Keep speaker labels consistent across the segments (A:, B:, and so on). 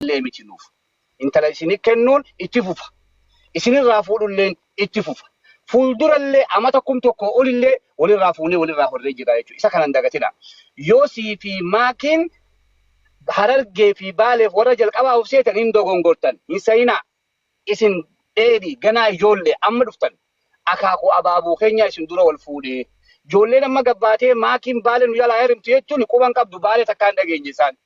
A: illee miti nuuf. Intala isinii kennuun itti fufa. Isinirraa fuudhulleen itti fufa. Fuuldurallee amata kum tokkoo olillee walirraa fuunee walirraa horree jirra jechuudha. Isa kana hin dagatinaa. Yosii fi Maakiin Harargee fi Baaleef warra jalqabaa of seetan hin dogongortan. Hin seyinaa. Isin dheedhii ganaa ijoollee amma dhuftan. Akaakuu abaaboo keenyaa isin dura wal fuudhee. Ijoolleen amma gabbaatee Maakiin Baale nu jalaa herimti jechuun quba hin qabdu Baale takkaa hin dhageenye isaan.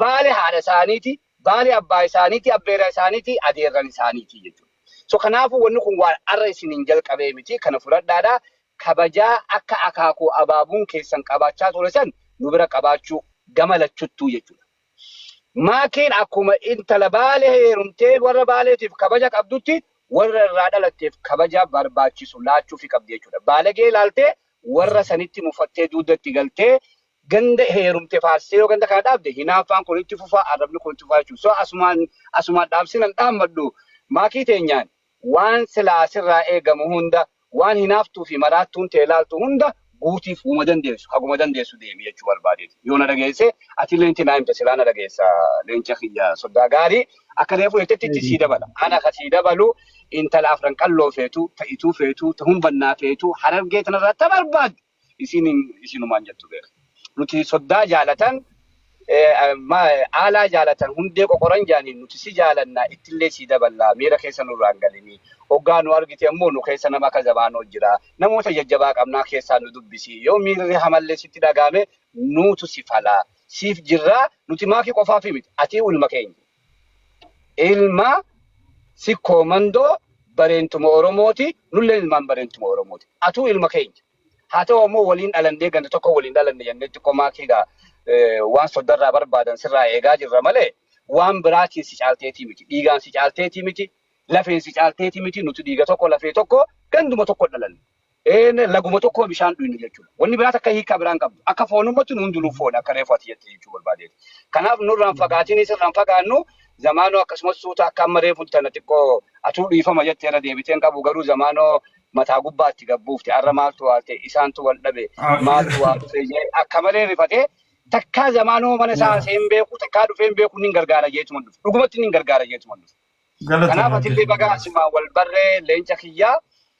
A: Baale haadha isaaniiti, baale abbaa isaaniiti, abbeera isaaniiti, adeerran isaaniiti jechuudha. So kanaafuu wanni kun waan arra isiniin jalqabee miti kana fudhadhaadha. Kabajaa akka akaakuu abaabuun keessan qabaachaa ture san nu bira qabaachuu gama lachuttuu jechuudha. Maakiin akkuma intala baale heerumtee warra baaleetiif kabaja qabdutti warra irraa dhalatteef kabaja barbaachisu laachuufi qabdi jechuudha. Baalagee ilaaltee warra sanitti mufattee duudda itti galtee Ganda heerumte faarsitee yoo ganda kana dhaabde hinaaffaan kun itti fufa, arrabni kun itti fufa jechuudha. So asumaan asumaan dhaamsiin an dhaammadhu Maakii teenyaan waan silaa sirraa eegamu hunda waan hinaaftuu fi maraattuun tee laaltu hunda guutiif woma dandeessu haguma dandeessu deemi jechuu barbaadeeti. Yoo na dhageesse atillee nitti naa himta silaa na dhageessa leenca kiyya soddaa gaarii akka reefu jettetti itti sii dabala. Ana ka sii dabalu intala afran qalloo feetu ta ituu feetu ta hunbannaa feetu harargee tanarraa ta barbaaddu Isiinin isinumaan jettu beeka. Nuti soddaa jaalatan aalaa jaalatan hundee qoqoran jaaniin nuti si jaalanna ittillee sii daballaa miira keessa nurraan galinii oggaa nu argite ammoo nu keessa nama akka Zamaanoo jira namoota jajjabaa qabnaa keessaan nu dubbisii yoo miirri hamallee sitti dhagaame nuutu si falaa siif jirraa nuti maakii qofaafii miti atii ulma keenya Ilma sikkoo mandoo bareentuma Oromooti, nulleen ilmaan bareentuma Oromooti. Atuu ilma keenya. Haa ta'u ammoo waliin dhalannee ganda tokko waliin dhalanne jennee xiqqoo maatii gaa eh, waan soddarraa barbaadan sirraa eegaa jirra malee waan biraatiin si caalteetii miti. Dhiigaan si caalteetii miti. Lafeen si caalteetii miti. Nuti dhiiga tokko lafee tokko ganduma tokko dhalanne. Een laguma tokkoo bishaan dhuynu jechuudha. Wanni biraa takka hiikaa biraan qabdu. Akka foonummaatti nu hundinuu foon akka reefu ati jette jechuu barbaadeeti. Kanaaf nurraa hin fagaatinis irraa hin fagaannu zamaanoo akkasumas suuta akka amma reefu tana xiqqoo atuu dhiifama jette irra deebitee hin qabu garuu zamaanoo mataa gubbaatti gabbuufte har'a maaltu waalte isaantu wal dhabe maaltu waa dhufe jee akka malee rifatee takkaa zamaanoo mana isaa haasee hin beeku takkaa dhufee hin beeku nin gargaara jeetuma dhufe dhugumatti nin gargaara jeetuma dhufe. Kanaaf Galatoomaa atillee bagaa jennaan. asimaan wal barree leenca kiyyaa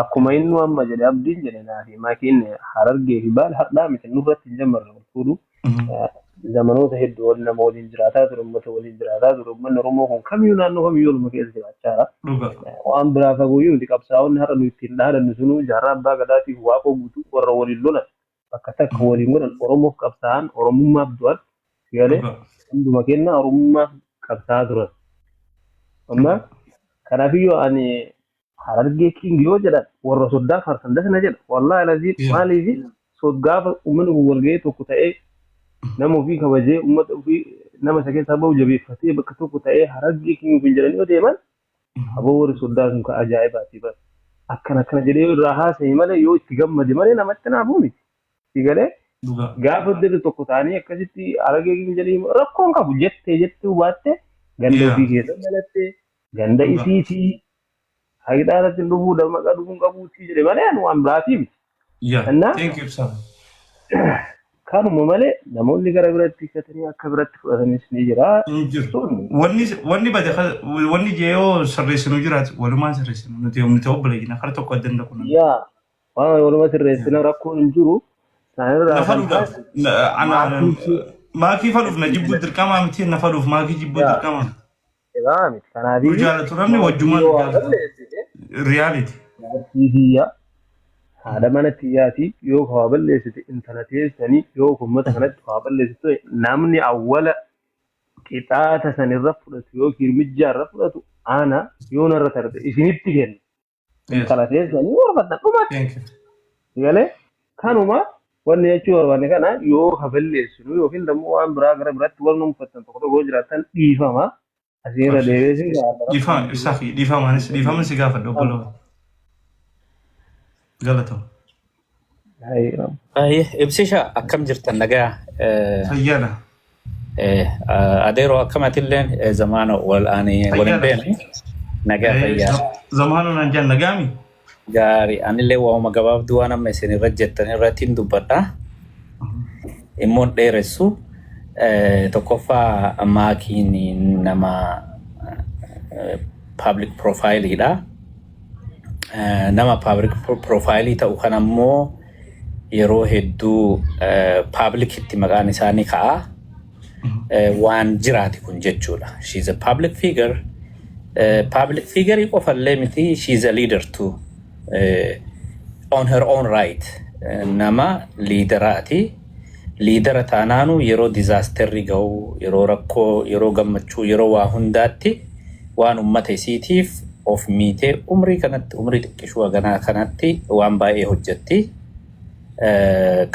B: Akkuma innuu amma jedhe abdiin jedhe naa fi maakiin harargee fi baal hardhaa miti nurratti hin jammarre wal fuudhu. Zamanoota hedduu ol nama waliin jiraataa ture uummata waliin jiraataa ture uummanni Oromoo kun kamiyyuu naannoo kamiyyuu oluma keessa jiraachaa jira. Waan biraa fagooyyuu miti qabsaa'onni har'a nu ittiin dhaadannu sunuu jaarraa abbaa gadaatiif waaqoo guutuu warra waliin lolan bakka takka waliin godhan Oromoof qabsaa'an Oromummaaf du'an sigalee hunduma kennaa Oromummaaf qabsaa'aa turan. Amma kanaafiyyuu ani harargee king yoo jedhan warra soddaa faarsan das na jedha wallaahi laziin Yeah. maaliifi sod gaafa uummanni kun walga'ee tokko ta'ee nama ofii kabajee uummata ofii nama isa keessaa bahu jabeeffatee bakka tokko ta'ee harargee king ofiin jedhanii yoo deeman Aboo warri soddaa sun ka ajaa'ibaati bar. Akkana akkana jedhee yoo irraa haasaye malee yoo itti gammade malee namatti naafuu miti. Sii galee? Dhugaa. Gaafa dirri tokko taanii akkasitti haragee king jedhii himu rakkoo hin qabu jettee jettuu baattee ganda Yeah. ofii keessa dhalatte ganda Dhugaa. isiitii haqidhaa irratti hin dhufuu damaqaa dhufuu hin qabuutii jedhe malee ani waan biraatii miti. Yaa. Annaa? Thank
C: you ibsaa.
B: Kanuma malee namoonni gara biratti hikkatanii akka biratti fudhatanis ni jira. Hin jiru. Sun Wanni wanni bade ka-
C: wanni jeeyoo sirreessinu jiraatu walumaan sirreessinu nuti yommuu ta'u baleeyina kara tokko adda hin dhaqnu. yaa waan
B: waluma sirreessina rakkoon hin jiru. Sanirraa Na kan faluudhaaf hafe na-
C: ana- maatiitu maakii faluuf na jibbuu dirqamaa miti na faluuf maakii jibbuu yaa dirqamaa miti. Egaa
B: miti kanaaf Yoo jaalatu namni wajjumaan
C: yoo waan jaalatu. balleessite Reality. jaartii biyyaa
B: haadha mana tiyyaatii yoo waa balleessite intala teessanii yoo uummata kanatti waa balleessitu ta'e namni awwala qixaata sanirra fudhatu yookiin mijjaarra fudhatu ana yoo narra tarte isinitti kenna. Yes. kana keessanii barbaadna dhumatti Thank
C: you. galee
B: kanuma wanni jechuu barbaanne kana yoo haballeessinu yookiin immoo waan biraa gara biraatti waan uumfattan tokko tokko yoo jiraatan dhiifama asii irra Abshir. deebi'ee isin gaafata rakkoon Dhiifama hin jiru. ibsaa fi dhiifamaanis dhiifama
C: si gaafadha obboloota. Galatoomi. Ayyo. Baay'ee
D: ibsisha akkam jirtan nagaa Eh, Fayyana.
C: eh, ah,
D: adeeroo akkamatilleen eh, zamaana wal ani wal hin Fayyana. beekne nagaa Eh, fayyaa za- Zamaana naan jaan
C: nagaami. gaarii
D: anillee waa'uma gabaabduu waan amma isin irra jettan irratti hin dubbadha immoo hin dheeressu Eh, tokkoffaa maakiin nama paablik piroofaayiliidha Eh, nama paablik piroofaayilii ta'u kan ammoo yeroo hedduu paablikitti maqaan isaa ni ka'a. Eh, Waan jiraati kun jechuudha. She is a public figure. Eh, Public figure qofallee miti she is a leader too. Eh, On her own right. Eh, Nama liideraati. Liidara taanaanu yeroo dizaasterri gahu, yeroo rakkoo, yeroo gammachuu, yeroo waa hundaatti waan ummata isiitiif of miitee umrii kanatti, umrii xiqqishuu haganaa kanatti waan baay'ee hojjetti.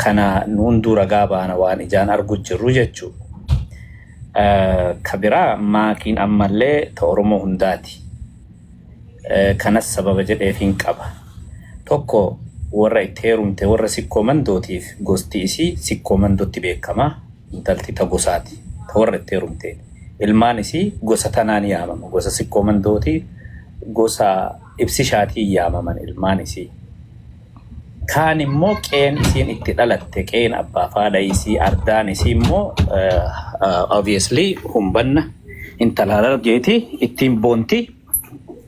D: Kana nu hunduu ragaa baana waan ijaan argu jirru jechuu. Ka biraa Maakiin ammallee ta Oromoo hundaati. Kanas sababa jedheefiin qaba. Tokko warra itti heerumte warra Sikkoo Mandootiif gosti isii Sikkoo Mandootti beekama. Intalti ta gosaati. Ta warra itti heerumteen. Ilmaan isii gosa tanaan yaamama. Gosa Sikkoo Mandooti, gosa Ibsishaatiin yaamaman ilmaan isii. Kaan immoo qeen isiin itti dhalatte qeen abbaaf haadha isii ardaan isii immoo eh, obviously humbanna intala harargeeti ittiin boonti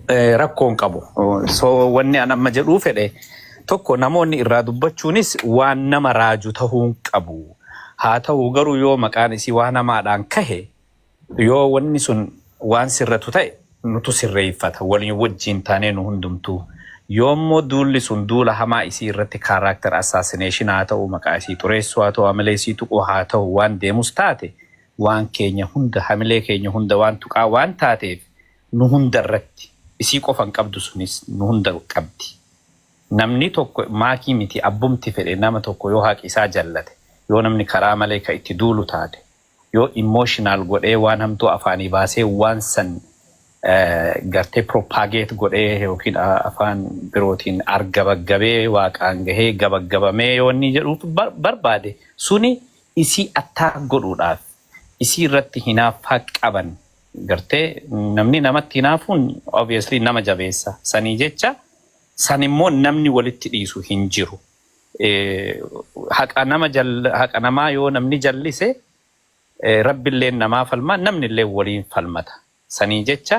D: eh, rakkoon qabu. So wanni an amma jedhuu fedhe tokko namoonni irraa dubbachuunis waan nama raaju tahuun qabu. Haa ta'u garuu yoo maqaan isii waan hamaadhaan kahe Yoo wanni sun waan sirratu ta'e nutu sirreeffata waliin wajjiin taanee nu hundumtuu. Yoo immoo duulli sun duula hamaa isii irratti character assassination haa ta'uu maqaa isii xureessuu haa ta'uu hamilee isii tuquu haa ta'uu waan deemus taate waan keenya hunda hamilee keenya hunda waan tuqaa waan taateef nu hunda irratti isii qofa hin qabdu sunis nu hunda qabdi. Namni tokko maakii miti abbumti fedhe nama tokko yoo haqi isaa jallate yoo namni karaa malee ka itti duulu taate yoo emotional godhee waan hamtuu afaanii baasee waan san gartee propagate godhee yookiin afaan birootiin argabaggabee waaqaan gahee gabaggabamee yoo inni jedhuuf barbaade suni isii attack godhuudhaaf isii irratti hinaaffaa qaban gartee namni namatti hinaafuun obviously nama jabeessa sanii jecha san immoo namni walitti dhiisu hin jiru. haqa nama haqa namaa yoo namni jallise rabbilleen namaa falma namnillee waliin falmata sanii jecha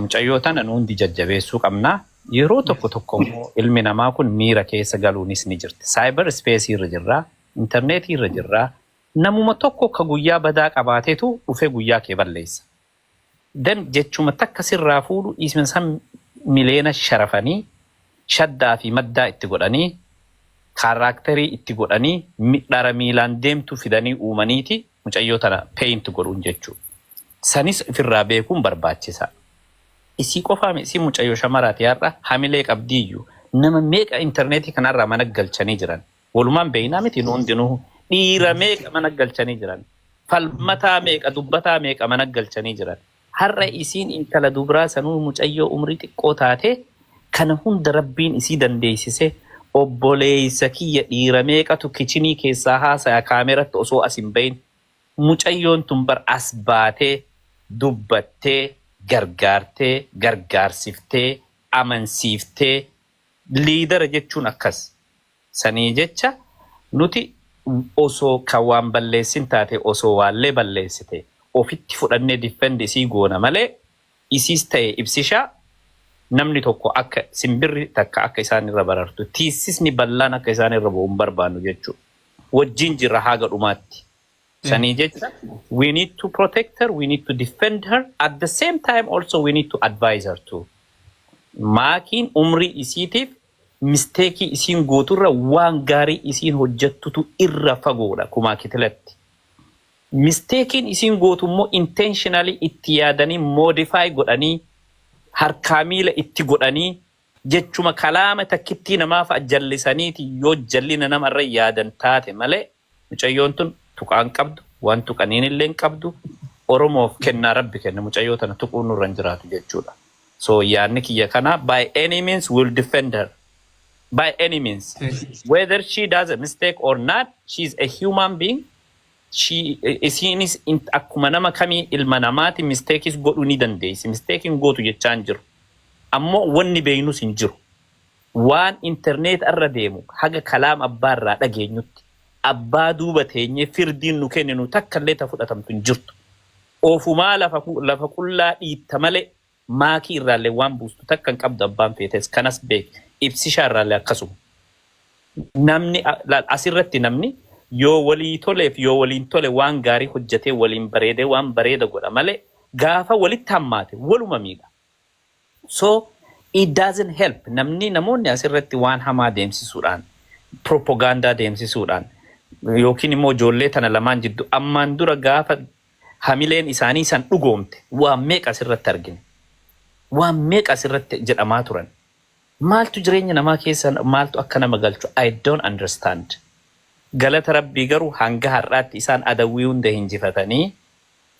D: mucayyoo tana nu hundi jajjabeessuu qabna yeroo tokko tokko immoo ilmi namaa kun miira keessa galuunis ni jirti saayibar ispeesii irra jirraa intarneetii irra jirraa namuma tokko ka guyyaa badaa qabaatetu dhufee guyyaa kee balleessa Dan jechuma takka sirraa fuudhu dhiisme san mileena sharafanii shaddaa fi maddaa itti godhanii kaarraakterii itti godhanii midhara miilaan deemtu fidanii uumaniiti mucayyoo tana paint godhuun jechuu sanis ifirraa beekuun barbaachisaa isii qofaami isiin mucayyoo shamaraati har'a hamilee qabdiiyyu nama meeqa interneetii kanarraa mana galchanii jiran Walumaan beekna miti nu hundinuu. Dhiira meeqa mana galchanii jiran. Falmataa meeqa dubbataa meeqa mana galchanii jiran. Har'a isiin intala dubraa sanuu mucayyoo umrii xiqqoo taatee kana hunda rabbiin isii dandeessisee obboleessa kiyya dhiira meeqatu kichinii keessaa haasaya kaameratti osoo as hin bahin. Mucayyoon tun bar as baatee dubbattee gargaartee gargaarsiftee amansiiftee liidara jechuun akkas. Sanii jecha nuti osoo kan waan balleessin taate osoo waallee balleessite ofitti fudhannee defend isii goona malee isiis taye ibsishaa namni tokko akka simbirri takka akka isaan irra barartu tiissisni ballaan akka isaan irra bu'u hin barbaannu jechuu wajjiin jirra haaga dhumaatti sanii jecha we need to protect her we need to defend her at the same time also we need to advise her too maakiin umrii isiitiif Mistake isiin gootu irra waan gaarii isiin hojjattutu irra fagoodha kumaa kitilatti. Mistaken isiin gootu immoo intentionally itti yaadanii modify godhanii harkaa miila itti godhanii jechuma kalaama takkittii namaa fa'a jallisaniiti yoo jallina nama irra yaadan taate malee. Mucayyoon tun tuqaa hin qabdu waan tuqaniin illee hin qabdu oromoof kennaa rabbi kenne mucayyoo tana tuquun nurra hin jiraatu jechuudha so yaanni kiyya kana by any means will defend her by any means whether she does a mistake or not she is a human being she isiinis in- akkuma nama kamii ilma namaati misteekis godhuu ni dandeessi misteekiin gootu jechaa hin jiru ammoo wanni beeynus hin jiru Waan internet irra deemu haga kalaam abbaa irraa dhageenyutti abbaa duuba teenyee firdiin nu kenninu takka illee ta fudhatamtu hin jirtu. Ofumaa lafa qullaa dhiitta malee maakii irraallee waan buustu takka hin qabdu abbaan feetes kanas beeki ibsishaa irraallee akkasuma. Namni laal as irratti namni yoo walii toleef yoo waliin tole waan gaarii hojjatee waliin bareedee waan bareeda godha malee gaafa walitti hammaate waluma miidha. So it doesn't help namni namoonni as irratti waan hamaa deemsisuudhaan propaganda deemsisuudhaan yookiin immoo ijoollee tana lamaan jiddu ammaan dura gaafa hamileen isaanii san dhugoomte waan meeqa as irratti argine waan meeqa as irratti jedhamaa turan maaltu jireenya namaa keessa maaltu akka nama galchu I don't understand galata rabbii garuu hanga har'aatti isaan adawwii hunda hinjifatanii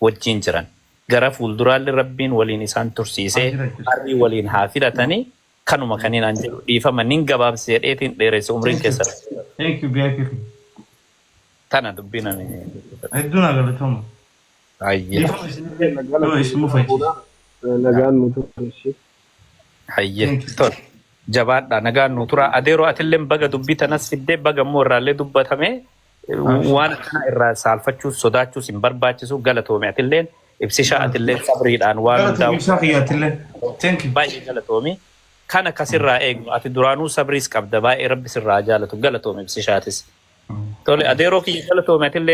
D: wajjiin jiran. Gara fuulduraalle Rabbiin waliin isaan tursiisee arrii waliin haa filatanii kanuma kaniin an jedhu dhiifama nin gabaabse jedheetiin dheeresse umriin keessan haa dheeratu. Thank you
C: VIP keenya.
D: Tana dubbiin ani dubbadhe. Hedduu naa
C: galatoomaa. Hayyee.
D: Dhiifama isinillee yoo isin mufachiise.
B: Nagaan nu tura ishi. Hayyee.
D: Thank you. Tol. Jabaadhaa nagaan nu turaa. Adeeroo atilleen baga dubbii tanas fiddee baga immoo irraallee dubbatamee Waan akkanaa irraa saalfachuus sodaachuus hin barbaachisu galatoomi atilleen ibsishaa atilleen sabriidhaan waan Galatoomii hundaa'u isaa kiyyaattillee. Thank you. baay'ee galatoomi. Kana kasirraa eegnu ati duraanuu sabriis qabda baay'ee rabbi sirraa haa jaalatu galatoomi ibsishaatis. Tole adeeroo kiyya galatoomi atillee.